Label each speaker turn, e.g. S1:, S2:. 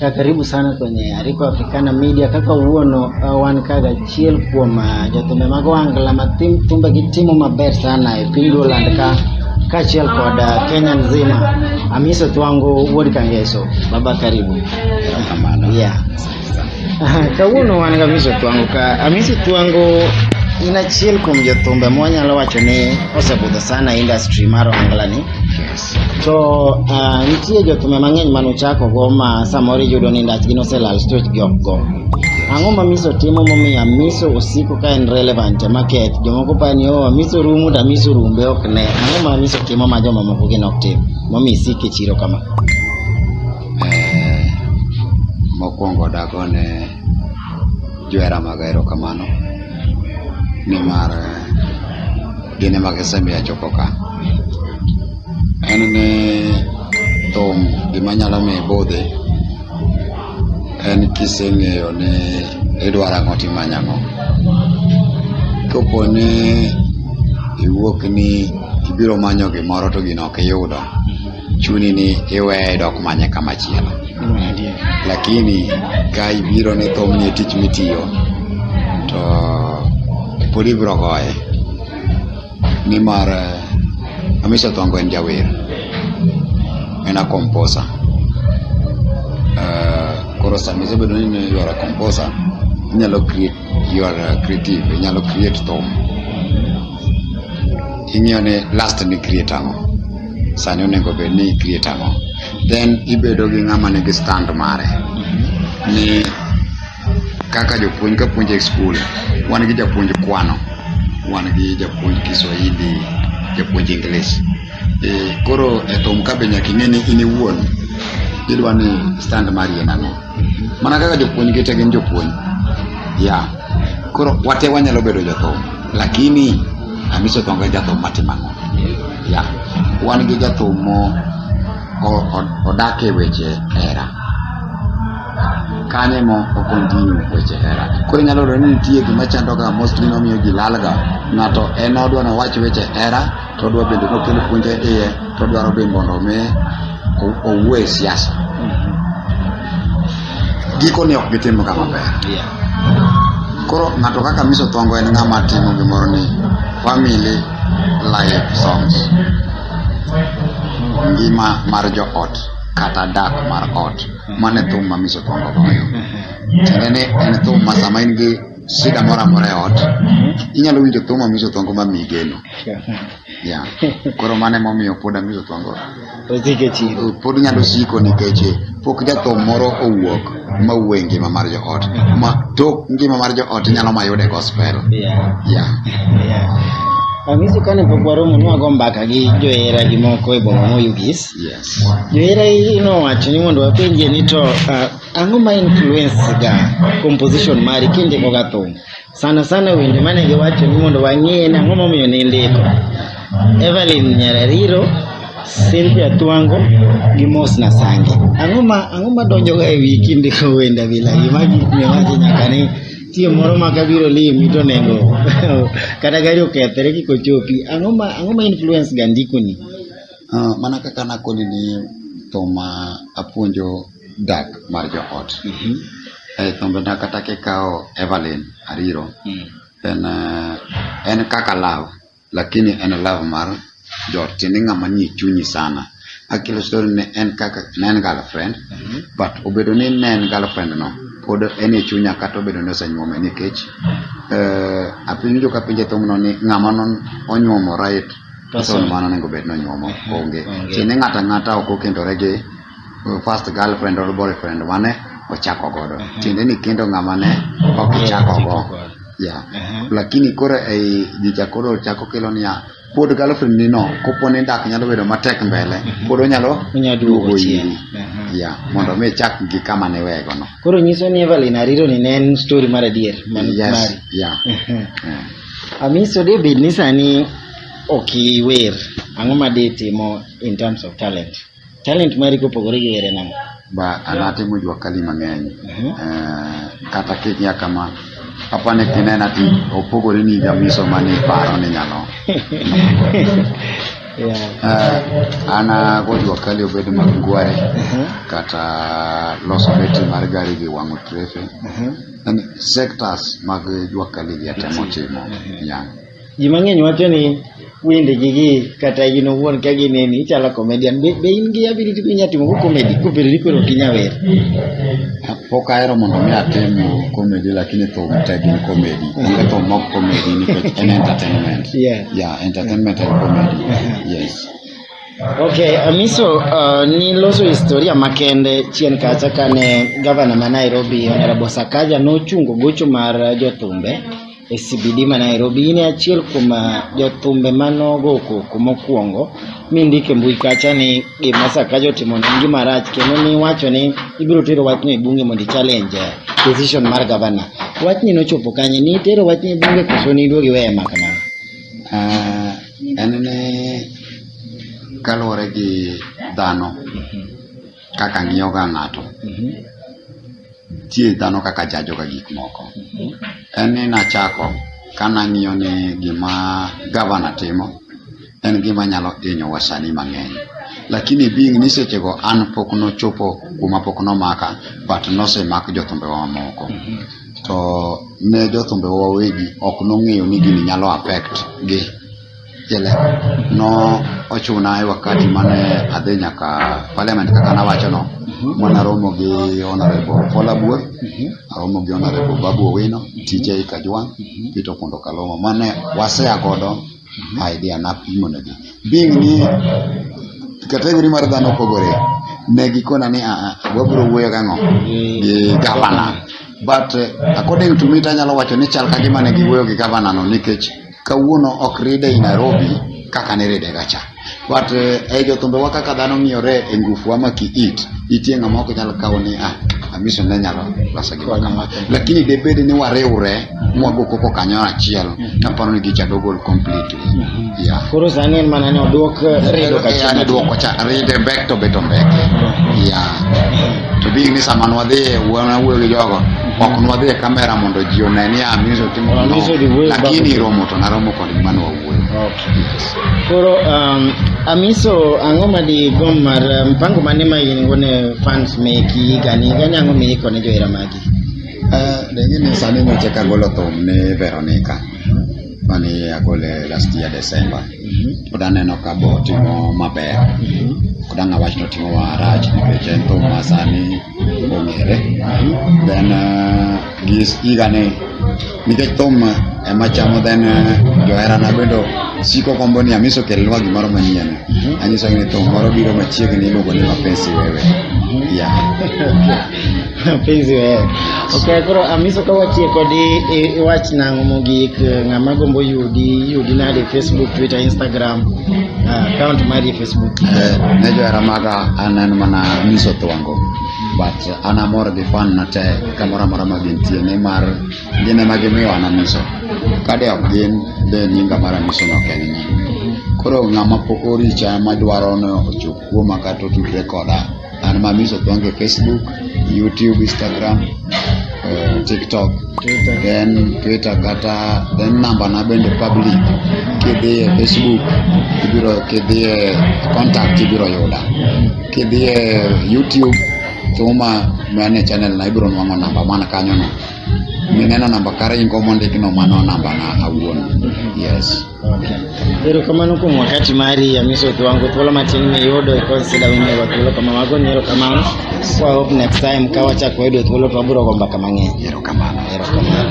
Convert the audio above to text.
S1: Ya, karibu sana kwenye Ariko Africana Media kaka uono uh, wan kaga achiel kuom uh, jothumbe mag wangla ma tim tumbe gi timo maber sana e piny Luoland ka kaachiel kod uh, Kenya nzima Amiso Twango wuod Kangeso baba karibu Erokamano. yeah. Aha, kawuono wan gi Amiso Twango ka Amiso Twango in achiel kuom jothumbe mwanyalo wacho ni osebudho sana industry mar wangla ni To uh, nitie jotume mang'eny ma nuchako go ma samoro iyudo ni ndachgi noselal stage gi ok go. Ang'o ma miso timo momiyo miso osiko ka en relevant e market? Jomoko pa ni oh miso rumo to miso rumbe ok ne. Ang'o ma miso timo ma jomamoko gin ok tim? Momiyo isik e chiro kama. Eh,
S2: mokwongo dagone johera maga erokamano nimar gin ema gisemiyo achopo ka. En ni thum gima nyalo miyo ibudhi en kiseng'eyo ni idwaro ang'o timanyo ang'o. Kopo ni iwuok ni ibiro manyo gimoro to gino ok iyudo chuni ni iweye dok manye kama chielo lakini ka ibiro ni thum ni tich mitiyo to pod ibiro goye nimar eh, Amisi Odhongo en jawer en a composer Eh, koro sama isebedo ni you are a composer inyalo create you are a creative inyalo create thum ing'iyo ni last ni create ang'o sani onego bed ni i-create ang'o then ibedo gi ng'ama nigi stand mare ni kaka jopuonj ka puonjo e skul wan gi japuonj kwano wan gi japuonj kiswahili japuonj english e, koro e thum ka be nyaka ing'e ni in iwuon idwa ni stand mari en ang'o mana kaka jopuonj gi te gin jopuonj ya koro wate wanyalo bedo jothum lakini amiso thonga jathum matimo ang'o Ya, wan gi jathum mo o- o- odak e weche hera. Kanye mo okontinyu weche hera. Koro inyalo yudo ni nitie gima chandoga mostly nomiyo ji lalga. Ng'ato en odwa ni owach weche hera, to odwa bende nokel puonje iye, to odwaro be mondo omi o- owuo e siasa. Gikone ok gitimga maber. Koro ng'ato kaka Miss Othongo en ng'ama timo gimoro ni family life songs. Ngima mar joot kata dak mar ot. Mano e thum ma Miss Othongo goyo. Tiende ni en thum ma sama in gi shida moro amora e ot, inyalo winjo thum ma Miss Othongo ma miyi geno. Yeah. Koro mane momiyo pod amizo twango. Osike chiro. Pod nyalo siko nikech pok jatho moro owuok ma wuo e ngima mar joot. Ma tok ngima mar joot nyalo mayude gospel. Yeah. Yeah. yeah.
S1: Amizo kane pok waromo nwago mbaka gi johera gi moko e boma moyugis. Yes. Johera nowacho ni mondo wapenje ni to uh, ang'o ma influence ga composition mari kindiko ga thum? Sana sana wende mane giwacho ni mondo wang'e ni ang'o momiyo nindiko. Evelyn Nyarariro, Cynthia Twango gi Mos Nasange. Ang'o ma ang'o ma donjoga e wi kindiko wende bila gi ma gik miwacho nyaka ni chieng' moro ma kabiro limi to nego kata gari okethre kik ochopi. Ang'o ma ang'o ma influence ga ndikoni? Ah, mana
S2: kaka nakoni ni thum ma apuonjo dak mar joot. E thombena kata kikawo Evelyn Ariro, en, eh, en kaka love, lakini en love mar joot, tiende ng'ama nie chunyi sana. Akelo story ne en kaka, ne en girlfriend, but obedo ni ne en girlfriend no, pod en e chunya kata obedo ni osenyuome nikech, eh, apinjo kapenje thumno ni ng'ama non onyuomo right person mano onego bed ni onyuomo, onge. Tiende ng'ato ang'ata ok okendore gi uh, first girlfriend or boyfriend mane ochako godo uh -huh. tiende ni kendo ng'ama ne ok ochako go yeah. uh -huh. lakini koro ei jicha koro chako kelo niya pod girlfriend ni no kopo ni dak nyalo bedo matek mbele uh -huh. pod onyalo duogo iri yeah, mondo mi chak gi kama ne wego no koro nyiso ni Evelyn
S1: Ariro ni ne en story mar adier man yes, mari yeah. uh -huh. yeah. Amiso David ni sani ok iwer ang'o ma ditimo in terms of talent Talent mari kopogore gi were nang'o? Ba an atimo jwa
S2: kali mang'eny. Mhm. Eh, kata kikia kama apa ni kinena ti opogore ni jamiso mani paro ni nyalo. Yeah. Eh, an ago jwa kali obed mag ngware Mhm. kata loso beti mar gari gi wang'o trefe. Mhm. Yaani sectors mag jwa kali gi atemo timo. Yeah. Ji
S1: mang'eny wacho ni wind gi gi kata in owuon ka gineni ichalo comedian be, be in gi ability minya timo go comedy kopere ni koro ok inya wer
S2: pok ahero mondo mi atim comedy lakini thum te gin comedy onge thum mok comedy nikech en entertainment Yeah. yeah entertainment and comedy yes Okay,
S1: Amiso, uh, niloso historia makende chien kacha kane gavana ma Nairobi Honorable Sakaja nochungo gocho mar jothumbe e CBD ma Nairobi. In e achiel kuom ah, jothumbe ma nogo koko mokwongo mi ndike mbui kacha ni gima Sakaja otimo ne en gima rach kendo niwacho ni ibiro tero wachno e bunge mondo i-challenge eh, decision mar gavana. Wachni nochopo kanye? Nitero wachni e bunge koso niduogo iweye ma kamano? Ah, en
S2: ni kaluwore gi dhano kaka ng'iyoga ng'ato nitie dhano kaka jajoga gik moko en ni nachako ka nang'iyo ni gima gavana timo en gima nyalo hinyo wasani mang'eny lakini being ni sechego an pok nochopo kuma pok nomaka but nosemak jothumbewa mamoko to ne jothumbewa wawegi ok nong'eyo ni gini nyalo affect gi Jele, no ochuna e wakati mane adhi nyaka parliament kaka nawacho no mwana romo gi honorable Paul Abur aromo gi honorable Babu Owino TJ Kajwang Peter Pondo Kalongo mane wasea godo idea napimo negi being ni kategori mar dhano opogore ne gikona ni "Ah, ah, wabiro wuoyo gang'o gi gavana but eh, according to me tanyalo wacho ni chal ka gima ne giwuoyo gi gavana no nikech Kawuono ok ride i Nairobi kaka niride ga cha. But eh, e jothumbewa kaka dhano ng'iyore e ngufuwa ma ki it, nitie ng'ama ok nyal kawo ni ah, amiso ne nyalo loso gima kama. Lakini debed ni wariwre mwago koko kanyo achiel, naparo ni gicha dogol completely. Yeah. Koro
S1: sani en mana ni odwok eh, redo ka Yani chien. duoko cha ride
S2: bek to beto mbeke. Yeah. To being ni sama nwadhi e wuoyo gi jogo, ok nwadhi e kamera mondo ji one ni amiso timo no lakini romo to naromo kod gima nwawuoyo
S1: koro um, amiso ang'o ma digom mar um, mpango mane ma in go ne fans meki higani higani ang'o miiko ne johera magi uh, deng'e
S2: ni sani noche kagolo thum ni veronica mani agole last year december mhm. pod aneno ka bo timo maber mhm. kod ang'awach notimo marach nikech en thum ma sani ong'ere then uh, gi iga ni nikech thum ema chamo then uh, joherana bende siko kombo ni amiso kelnwa gimoro manyien anyiso ni thum moro biro machiegni iluongo ni mapenzi wewe ya
S1: mapenzi wewe ok koro amiso ka watie kodi iwach nang'o mogik ng'ama gombo yudi yudi nade facebook twitter instagram ah, account mari ne johera
S2: maga an en mana nyiso thwango but an amor gi fan na te kamoro amora ma gintie nimar gin ema gimiyo an anyiso kade ok gin de nyinga mar anyiso no ok en ni koro ng'ama pok oricha madwaro ni ochop kuoma kata otudre koda An Mamis Odhonge Facebook, YouTube, Instagram, uh, TikTok, Twitter. then Twitter kata then namba na bende public kidhiye Facebook ibiro kidhiye contact ibiro yuda kidhiye YouTube thuma mane channel na ibiro nwang'o namba mana kanyono mineno namba kare ingo mondikno mano namba na awuon yes
S1: Okay. Erokamano kuom wakati mari Amiso Kiwango. Thuolo matin miyudo ikos sida winyogo thuolo kama mago ni erokamano. Kwa hope next time ka
S2: wachako
S1: wayudo thuolo to wabiro go mbaka mang'eny. Erokamano. Erokamano.